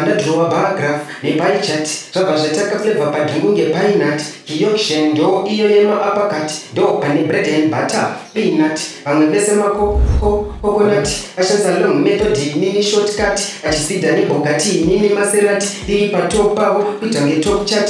ndadhirowa bar graph nepie chart zvabva zvaita kaflavor padhungu ngepinut kioction ndo iyo yemaapakati ndo pane bread and butter peanut vamwe vese makokonut ashandisa long method inini shortcut achisida nebhogati inini maserati iri patop pavo kuita ngetop chat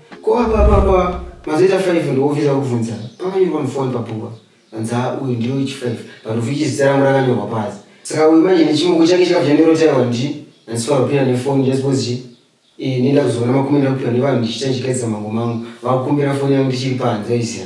Ko apa papa mazoita 5 ndiwobvisa kubvunza pakanyorwa mufoni papupa hanzi a uyu ndiyo ichi 5 panofi ichi zita rangu rakanyorwa pasi saka uyu manje nechimoko chake chikabva chandorotaiwa ndi hanzi farapira nefoni ndasipose chi Eh, nenda kuzoona makumi ndakupira nevanhu ndichita ndichigadzisa mango mangu vakukumbira foni yangu ndichiri panze aizira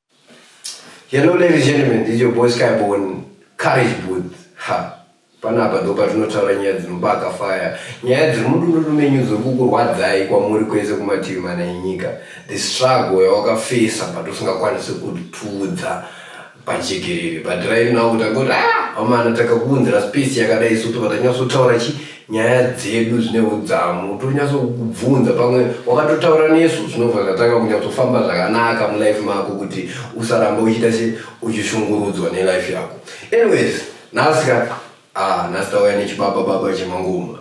Hello ladies and gentlemen, this is your boy Skyborn, Courage Booth. Ha, panapa ndo patinotaura nyaya dzinobaka fire, nyaya dziri mudununu menyu dziri kukurwadzai kwamuri kwese kumativi mana enyika, the struggle yawakafesa but usingakwanisi kutudza pajekerere but right now utangoti ah amana takakuunzira space yakadai so tobva tanyatsotaura chi nyaya dzedu zvine udzamu tonyatso kubvunza pamwe wakatotaura nesu zvinobva zvatanga kunyatsofamba zvakanaka mulife mako kuti usaramba uchiita se uchishungurudzwa nelife yako anyways nhasi ka ah, nhasi tauya nechibaba baba chemangoma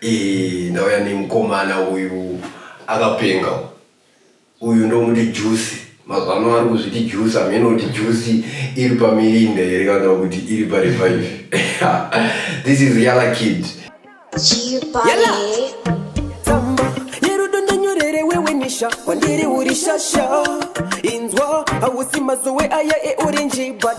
e, ndauya nemukomana uyu akapenga Uyu ndomuti juice magwama ari kuzviti juice hameno kuti juice iri pamirinda here kana kuti iri parevive this is yala kid yala tsamba yerudo ndonyorere wewe nisha kwandiri uri shasha inzwa hausi mazowe aya eorenji but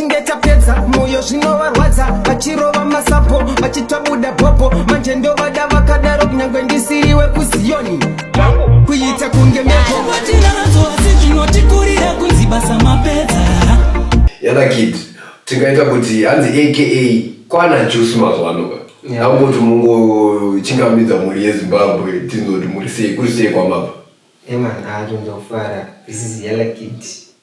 Tinge tapedza moyo zvinovarwadza vachirova masapo vachitabuda bhobho manje ndovada vakadaro kunyangwe ndisiriwe kuziyoni kuita kunge meko Tinadzo asi zvinotikurira kunzi basa mapedza yana kid tingaita kuti hanzi aka kwana juice mazuva ano ka Yeah. nakumboti mungochingamidza mhuri yezimbabwe tinzoti muri sei kuri sei kwamabva Eman atonzofara this is yellow kid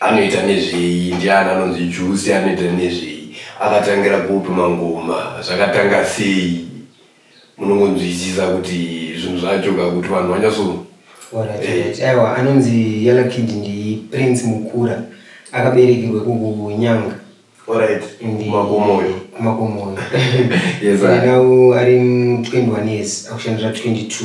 Anoita nezvei ndiani anonzi Juicy anoita nezvei akatangira kupi mangoma zvakatanga sei munongonzwisisa kuti zvinhu zvacho ka kuti vanhu vanyaso Alright, alright. Aiwa anonzi Yellow Kid ndi Prince Mukura akaberekerwa kuNyanga Alright, ndi makomo uyo. kumakomo uyo. Yes, sir. Now ari mu 21 years akushandira 22.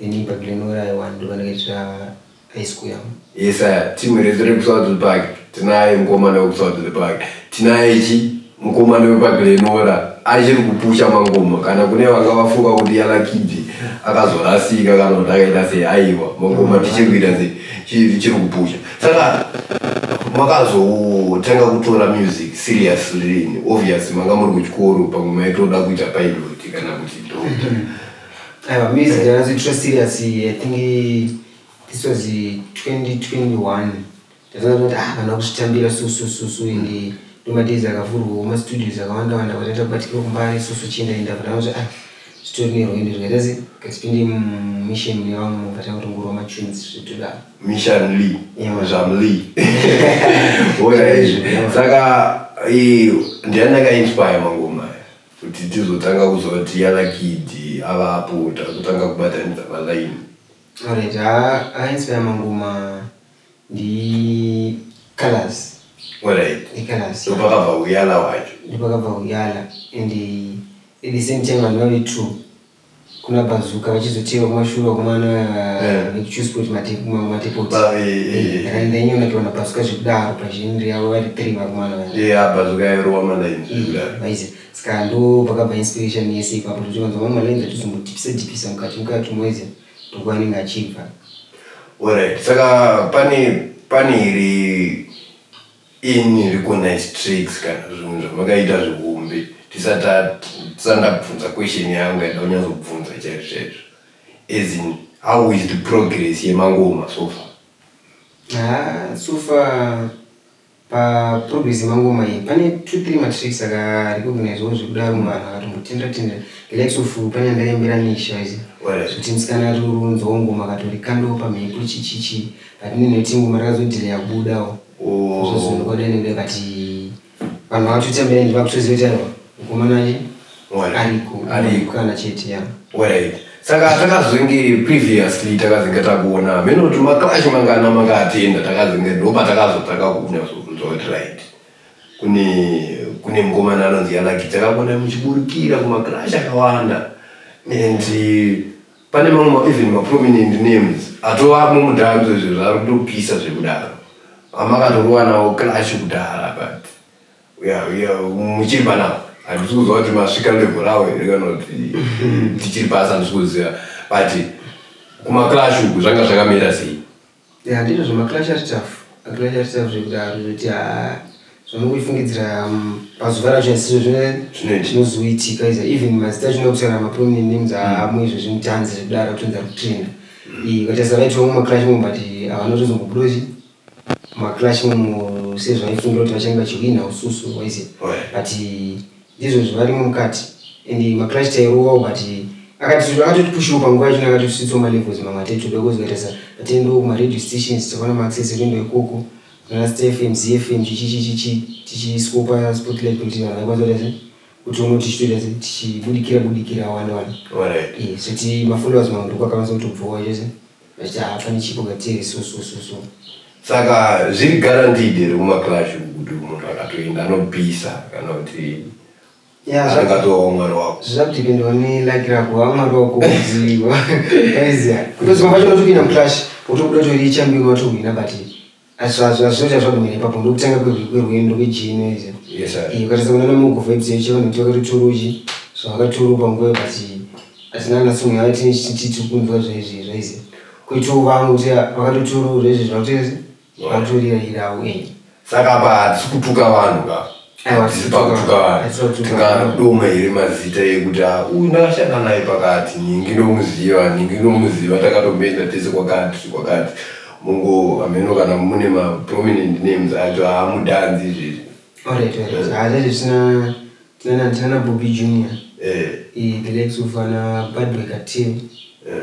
Ini but lino where I want to when it's uh, high school yam. Yes sir, team rezo rekuswa to the park. Tinaye mkomana wekuswa to the park. Tinaye chi mkomana wepa Glenora achiri kupusha mangoma kana kune vanga vafunga kuti yala kidzi akazorasika kana kuti akaita sei aiwa mangoma mm. tichiri kuita sei chiri kupusha saka makazotanga kutora music seriously obviously manga muri kuchikoro pamwe maitoda kuita pilot kana kuti doctor mm-hmm. Aiwa music ndakatoitora serious i think this was 2021 ndatoona kuti ah kana kuzvitambira so so so so and ndomadays akavhurwawo mastudios akawanda wanda kwataita kubatikira kumbare so so chienda enda but anoti ah zvitori nerwendo zvikaita se katipinde mumission mune vamwe munhu vatanga kutongorwa matunes zvitodaro Mishan Lee, Yeah. Misham Lee. Wona izvi. Yeah. Saka eh, ndiani akainspire mangoma aya? Kuti tizotanga kuziva kuti yana kid ava apo takutanga kubatanidza ma line. Alright haa a inspire mangoma ndi Calaz. Alright. Ndi Calaz. Ndopakabva uyala wacho. Ndopakabva uyala and at the same time hazvina kuti true. kuna bazuka vachizotewa kumashure vakomana eh. vekuchuse kuti matepoti akaenda eh, eh, nyona tiwana bazuka zvekudaro pazhinri yavo vari three vakomana vaize saka ndo pakabva inspiration yese ipapo totiwanza vamwe malainzi atizombotipisa tipisa mukati mukati moize tokuva anenge achibva orit saka pane pane iri Ini riko nice tricks kana zvinhu zvamakaita zvihombe tisata tisati ndabvunza question yangu yanda kunyazobvunza chaizvo chaizvo as in how is the progress yemangoma so far Ah, so far paprogress yemangoma iyi pane two three matricks akarecognizwawo zvekudaro munhu vanhu akatombotendera tendera the likes of pane andaimbira nisha izi Where? kuti musikana ari unzwawo ngoma akatori kandowo pamhepo chichichi but ninoiti ngoma rakazodhileya kubudawo saka takazenge previously takazenge takuona hameno kuti maclash mangana makaatenda takazenge ndopa takazotanga kunyatsokuzotright kune kune mukomana anonzi yanakidza kakona muchiburukira kumaclash akawanda and Pane mamwe even ma prominent names atovamo mudanzo izvo zvaari kutopisa zvekudaro amakatorowa nawo clash kudhara but muchiri panawo handisi kuziva kuti masvika level rawo here kana kuti tichiri pasi handisi kuziva but kumaclash uku zvanga zvakamira sei Yeah ndizvo zvema clasher stuff clasher stuff zvekudaro zvekuti haa zvamukufungidzira um, pazuva racho asizvo zvinozoitika iza even mazita achinoda kutaura maprominent names aamwe izvo zvimutanzi zvekudaro kutonzi ari kutrenda ukatarisa vaiti vamwe maclash mo but havana kutozombobudozi maclash mo sezvaifungira kuti vachange vachihwina ususu waizia but Ndizvo zvivarimo mukati and maChrist airovawo but akati akatotipushiwo panguva yacho akatositsawo malevels mamwe atete toda kuzoita sa tatiendawo kumaradio stations takaona maaccess ekuendawo ikoko kana stfm zfm chichichichichi tichiswo paspotlight kuti vanhu vaikwanisa kuita sei kuti uno tichitoita sei tichibudikira budikira awanda wanda Alright. Eh, so ti mafollowers mamwe ndoko akakwanisa kutobvowa chose Vachafa nechipo vatiri so so so so. Saka zviri guaranteed here kuma clash uku kuti munhu akatoenda anopisa kana kuti Yeah, zva- angatova mwana wako. zvakutipindawo nelaki rako vamwari wako kuziva aiziya kutoziva pacho unotopinda muclash wotobuda tori chambiwa watohwina but azvazvaita zvagumira ipapo ndokutanga kwerwendo kwejini izi ukatasa kunana mugovha idzo yeche vanhu kuti vakatoturuji so vakaturuka nguva but atina kana sumwe yava tichiti kunzwa zvaizvi zvaizi kuitiwo vangu kuti vakatoturura izvi zvakutoizi vakutorira irawo enyi saka apa hatisi kutuka vanhu ka tingadoma here mazita ekuti ah, uyu ndakashanda naye pakati ningi ndomuziva ningi ndomuziva takatombenda tese kwakati kwakati mungo hameno kana mune maprominent names acho haamudanzi izvezvi hazvazvisina tinana bobi junior eh. eh, the legs of ana badwekateam eh.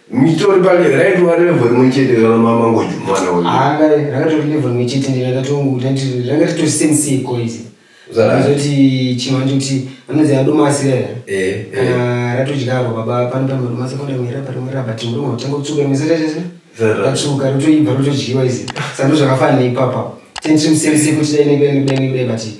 Mitori pale raitova level rimwe chete kana mama ngoju mwana uyu. Anga rakatori level rimwe chete ndi rakatongu kuti ranga rito same si ko izi. Zara zoti chimanje kuti anozi ado masi ya. Eh. Kana ratodya avo baba pano pano ndo masi kona mwera pano mwera but ndo ngotenga kutsuka misa chete chete. Zara ratsuka rotoibva rotodyiwa izi. Sando zvakafana ipapa. Tension same si kuti dai ne ne ne ne bati.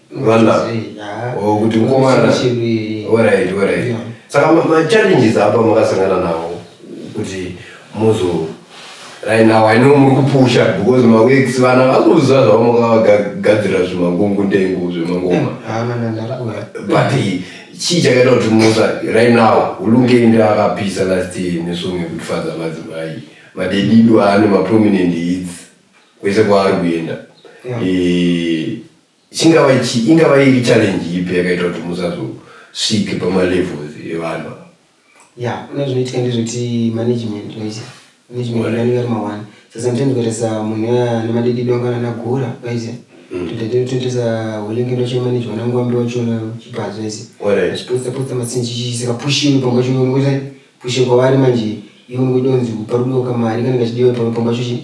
vana oh, kuti mukomana orit orit saka machallenges apa makasangana nawo kuti muzo right now i know muri kupusha because maweeks vana vakuziva zvavamakavagadzira zvemangungu ndengu zvemangoma eh, but chii chakaita kuti musa right now ulungei ndi akapisa last year nesong yekutifadza madzimai madedido aane maprominent hits kwese kwaari kuenda eh, Chingava ichi ingava iri challenge ipi yakaita kuti musazosvike pamalevels evanhu ava? ya kune zvinoitika ndezvekuti management waita management Wale. anenge ari maone so sometimes kutarisa munhu uya ane madididi wangana anagura waita tototarisa hulenge ndochimanejwa nangwambe wachona chipazi waita Wale. achipotsa potsa masinji chisika pushing pamba chino ngoita pushing kwavari manje iwe ngoita kunzi pari kudoka mari kana kachidiwa pamba pamba chochi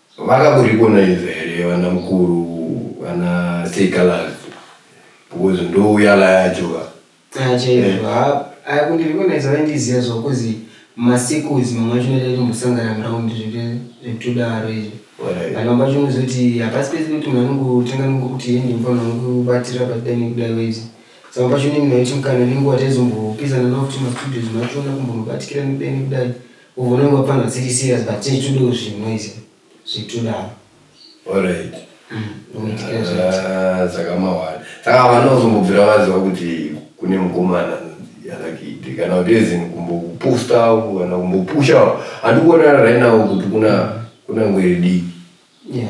Vakaburikona inza here vana mukuru vana Seikalas because ndouya la yacho ka. Ah chaizvo eh. ha aya kundirikona izva vaindiziva zvo kuzi masequels mamwe acho noita kuti musangana muround zvekutodaro izvo kana pacho unozoti hapasi pese kuti munhu anongotanga nongokuti hendi mufana nokubatira paida nekudaro izvi saka pacho unenge naiti mukana nenguva taizombopesana navo kuti mastudios macho ona kumbonobatikira nekudai nekudai Unoona pano dziri serious but tiri tudo zvinoise zvitudaro. Alright. Mm, ah, Zakamawara. Saka vana uzombobvira vaziva kuti kune mukomana yanakiti kana kuti ezini kumbokupusta kana kumbopusha handikuona right now kuti kuna kuna ngwere dii. Yeah.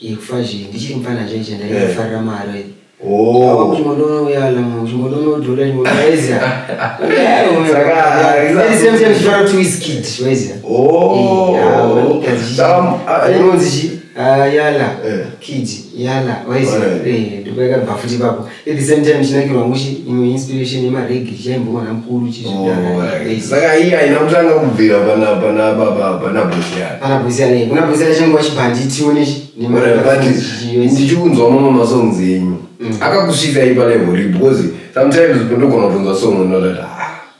yekufa zvinhu ndichiri mupfana chaicho ndaifarira eh. mari oh. yala kid yala waizia ndopayakabva futi ipapo at the same time chinakirwa mushi imwe inspiration yemaregi chichaimbowana mukuru chizvisaka oh, iya ina kutanga kubvira pana pana baba pana bosiyana pana bosiyana kuna bosiyana chingwa chibhanditi unechi ndichiunzwa mamwe masongs enyu mm. akakusvika ipa level because sometimes ndogona kutonzwa song unoda ah,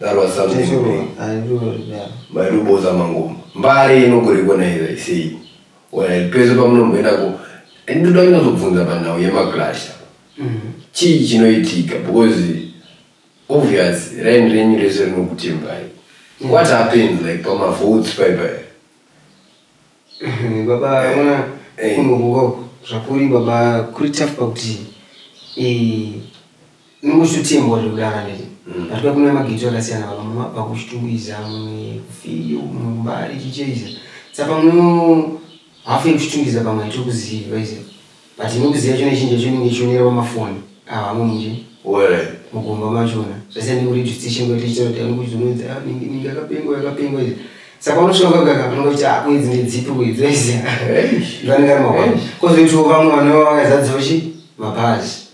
That was something big. Cheshuwa handiroori daro. maitoboza mangoma mbare inogorekona here isei Well, pese pamunomboenda ko ndoda kunyazobvunza panhau yemaclash chii chinoitika because obvious rain renyu rese rinokutembai what happens like pamavotes paipai Umm baba ona kunovuka uku zvakuri baba kuri tough pakuti inongosutembo zviri kudara neti pati mm. kuna mageto akasiyana baba mumwe abva kuchitungwiza mumwe kufiyo mumwe kumbari chicheiza saka pamwe hafu yekuchitungiza pamwe haitokuzivi vaiziva But inokuziva chona chinja chonenge chionerawo mafoni avamwe nje. Where? Mugomba machona. Zvese ndinguri dzvitsi chengo tichitaura kuti anongo zvinoita ah, ningi ningi akapengwa akapengwa izvi. Saka unosvika kaka anongo kuti ah kwedzi ndedzipi kwedzi waisa. Vanenge ari mabwana. Kozoitawo vamwe vanova vakazadzawo chi mapazi.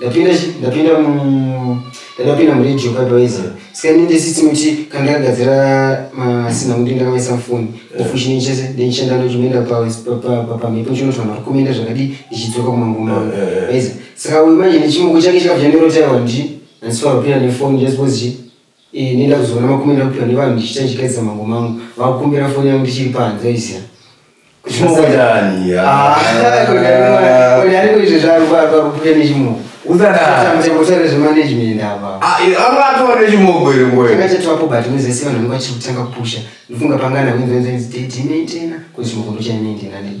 ndapinda ndapinda mu ndakapinda mu radio pa doiza sika ndi ndisitsi muti kanga gadzira masina muti ndakamaisa mfoni ofushi ni chese ndi nchenda no chimenda pa pa pa pa mipo chino twa makumenda zvakadi ndichidzoka kuma ngoma doiza sika uyu manje ni chimoko chake chakabva nero tawa ndi and so appear ni phone just was Iyi nenda kuzoona makumi nakupiwa nevanhu ndichiita ndichigadzisa mango mangu vakukumbira foni yangu ndichiri panze izia usadatangatiapo but nezese vanhu vangu vachiri kutanga kupusha ndofunga pangana wenzenzenzi date inoitena kuti chimoko ndochainoindenanei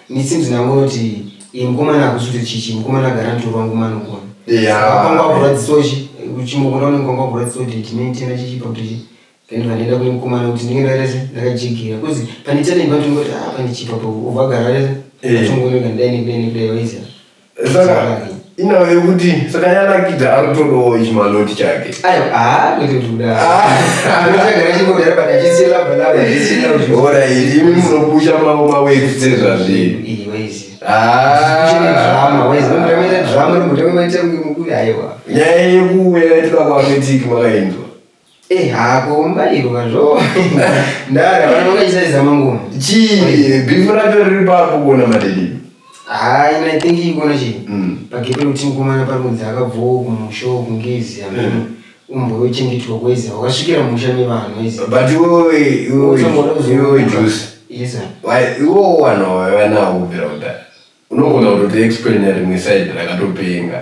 Me seems ndangoti iyi mukomana hakusi kuti chichi mukomana agara mutoro wangu manokona kwanga kurwadzisawo chi uchimokona unenge kwanga kurwadzisawo kuti ndine tena chichipa kuti chi then vandaenda kune mukomana kuti ndinge ndaita se ndakajigira bcause pane tena imba ndingoti ah pane chipa pa ubva gara atongonoga ndai nekudai nekudai waiziva saka inawe yekuti saka yanakidza akutodawo chimaloti chake oraiti imi munopusha mavo maweti sezvazviri nyaya yekuuya yaitira kuametiki makainzwa Eh hako mbairwa zvo. Ndara vana vakaisaiza mangumo. Chii bifu racho riri papo kuona madidi. Ah, ina I think ikona chii. Mm. Pagepe kuti mukomana pari kunzi akabvowo kumusho kungezi amene. Mm. Umbo wochengetwa kweza wakasvikira musha nevanhu izi. But iwe iwe iwe juice. Yes sir. Why iwo wana wanawo kubvira kudhara. Unogona kutotiexplainer rimwe side rakatopenga.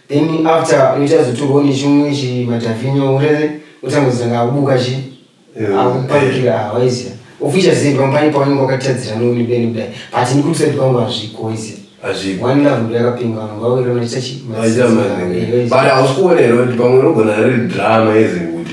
then after unoita zotorwa nechimwe chimadhavhinyo urere otanga kuzanga akubuka chi akuparukira hawaiziva ofisha sei pamupani paunenge wakatadzira nouni beni kudai but nikusaidi kwangu hazviko waiziva hazviko one love ndo yakapinga vanhu ngawawira unoita chi but hausi kuona here kuti pamwe unogona riri drama yezimbuti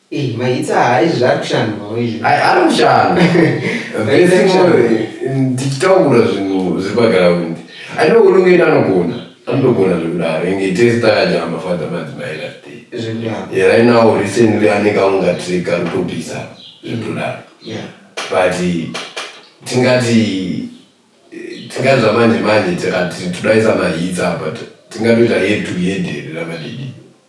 Eh, maitsa haa izvi zvari kushandwawo izvi Ai, ari mushando Very Basic mushando. knowledge. ndichitaura zvinhu zviri pagaraund ane unongeni anogona anotogona zvekudaro inge tese takajamba fadha madzimai last day zvekudaro Yeah, right now recently ane kaunga trick ari kutopisa zvekudaro Yeah. but tingati tingati zvamanje manje tikati todaisa mahitsa but tingatoita head to head here ramadidi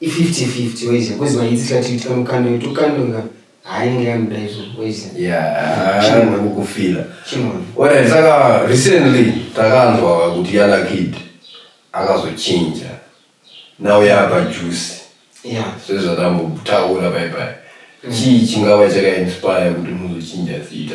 i 50 50 waiza because vanyitsi tikati tikamukanda kuti ukandonga hainenge yamuda izvo waiza yaamukufila alright saka recently takanzwa kuti yalakid akazochinja now yaapa juice sezvatambotaura paipai chii chingava chakainspire kuti muzochinja zita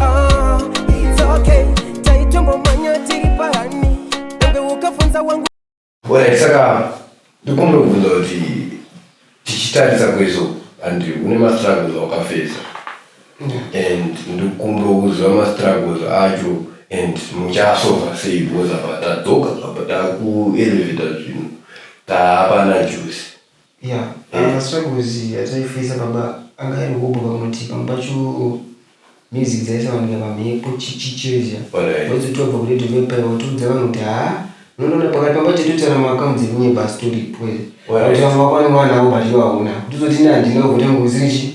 Ah, it's okay. Taitombomhanya tiri pahani. Dambe ukafunza wangu Well, saka ndikumbira kubvunza kuti tichitarisa kwezvo and une mastruggles awakafesa and ndikumbira kuziva mastruggles acho and muchasova sei because apa tadzoka apa takueleveta zvinhu taapana juice Yeah, uh, struggles dzaifesa baba anga ari hobho pamuti pamwe pacho music dzaisawanika pamhepo chichichezha Alright. wadzotobva kuredio vepaya watoudza vanhu kuti haa munoona pakati pamba chatotaura maakaunti ekunyepa asi toripo here Alright. kuti vamwe vakwanirwa navo but ivo hauna kuti uzoti ine handina ugotange kuzichi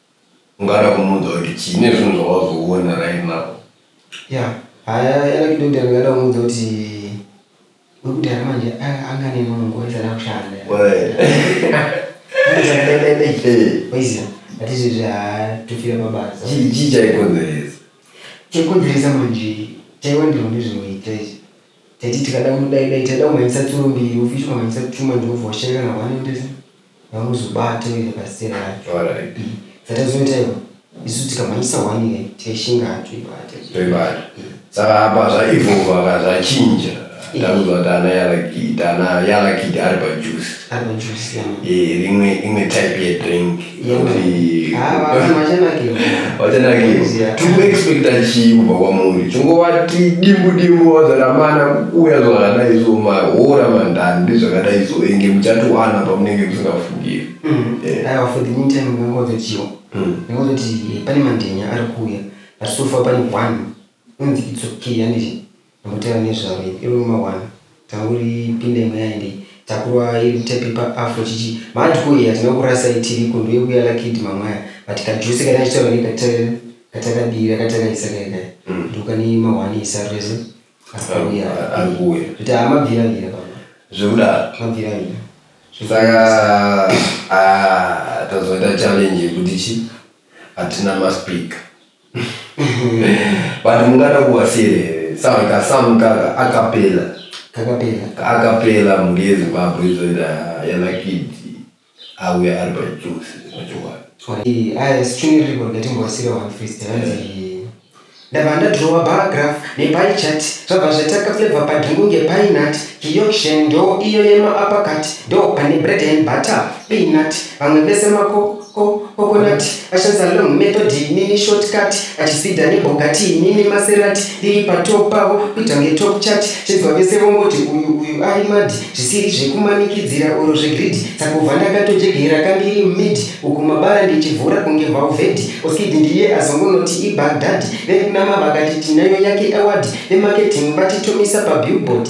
ungada kumuudza kuti chii nezvinhu zvawazoona right now ya haya yalakidodha ndingada kumuudza kuti wekudhara manje anga ane nungo aisada kushanda waiziva atizvezve haa tofira pabasa chii chaikonzeresa chaikonzeresa manje chaiwandirwa ndezvinoita izvi taiti tikada kudaidai taida kumhanyisa tsuro mbiri ufishi ukamhanyisa chuma ndinobva washaikana hwanendesa Hamuzobate uyo pastel racho. Alright. Zvatazoita ivo isu tikamhanyisa one ine taishinga hatoibate. Toibata. Saka apa zvaivova ka zvachinja. Ndakuzwa kuti ana yalakid ana yalakid ari pajuice. Ari pajuice yana. Eh rimwe imwe type yedrink. Yekuti. Haa vamwe vachanakirwa. vachanakira tiri kuexpecta chii kubva kwamuri chingovati dimbu dimbu vazanamana kukuya zvakadai zvo mahora mandani ndezvakadai zvo enge muchatowana pamunenge musingafungiri mm. eh. aiwa for the meantime ngangozotiwo mm. ngozoti eh, pane mandenya ari kuuya atisofa pane one unzi it's okay handiti Mutare nezvaro iri iwe mawana tauri pindai mweya endei takurwa iri mtepe pa afro chichi mad ko iyi hatina kukurasai tiriko ndoyekuya lakid mamwaya but ka juice kane achitaura neka tare katakadira katakaisa kaya kaya ndokane mahwani isarurese arikuuya arikuuya zvoti haa mabvira vira papa zvekudaro mabvira vira saka ah, tazoita challenge yekuti chi hatina maspeaker but mungada kuwasiyerere sound ka sound kaka akapela kakapera kaakapela mhuri yezimbabwe izoita yalakiti auya ari pajusi pachokwadi aisichuniriko ndatimbowasire one first hanzi ndabva ndadrowa baragraph nepai chat zvabva zvataka flavor padringu ngepainat kioction ndo iyo yema apakat ndo pane bread and butter peanut vamwe vese mako Ko, coconut, achadza long method inini shortcut, achispeeder nebhogati inini maserati, ndiri patop pavo kuita kunge top chat, chinzwa vese vongoti uyu uyu ari mad, zvisiri zvekumanikidzira or zvegreed, sakubva ndakatojegera kandiri mid, uku mabara ndichivhura kunge valved, oskid ndiye azongonoti ibagdad, vekuna mavakati tinayo yake award, vemarketing vatitomisa pabillboard,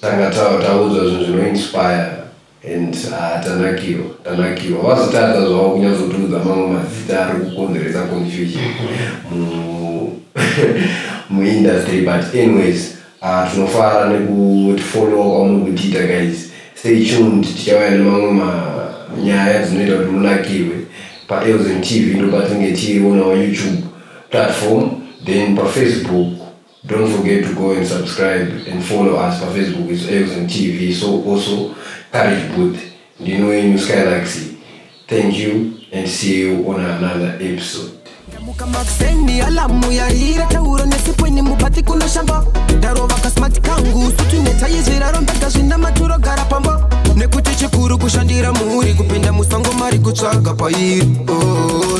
Tanga taudzwa zvinhu zvino inspire and ah, tanakirwa tanakirwa vazotadza zvavo kunyatsotiudza mamwe mazita ari kukonzeresa confusion muindustry but anyways ah, tinofara nekutifollowa kwamuri kutiita guys stay tuned tichauya nemamwe manyaya dzinoita kuti munakirwe paelzen tv ndopatinge tiriwo nawo youtube platform then pafacebook Don't forget to go and subscribe and follow us pa Facebook it's Erickson TV so also Courage Booth ndino yenyu Skylaxy thank you and see you on another episode ndamuka makuseni alamu yaira tauro nesipweni mubati kunoshamba ndarova kasmart kangu sutu netayi zviraro mbega zvina maturo gara pamba nekuti chikuru kushandira mhuri kupinda musango mari kutsvaga pairi oh.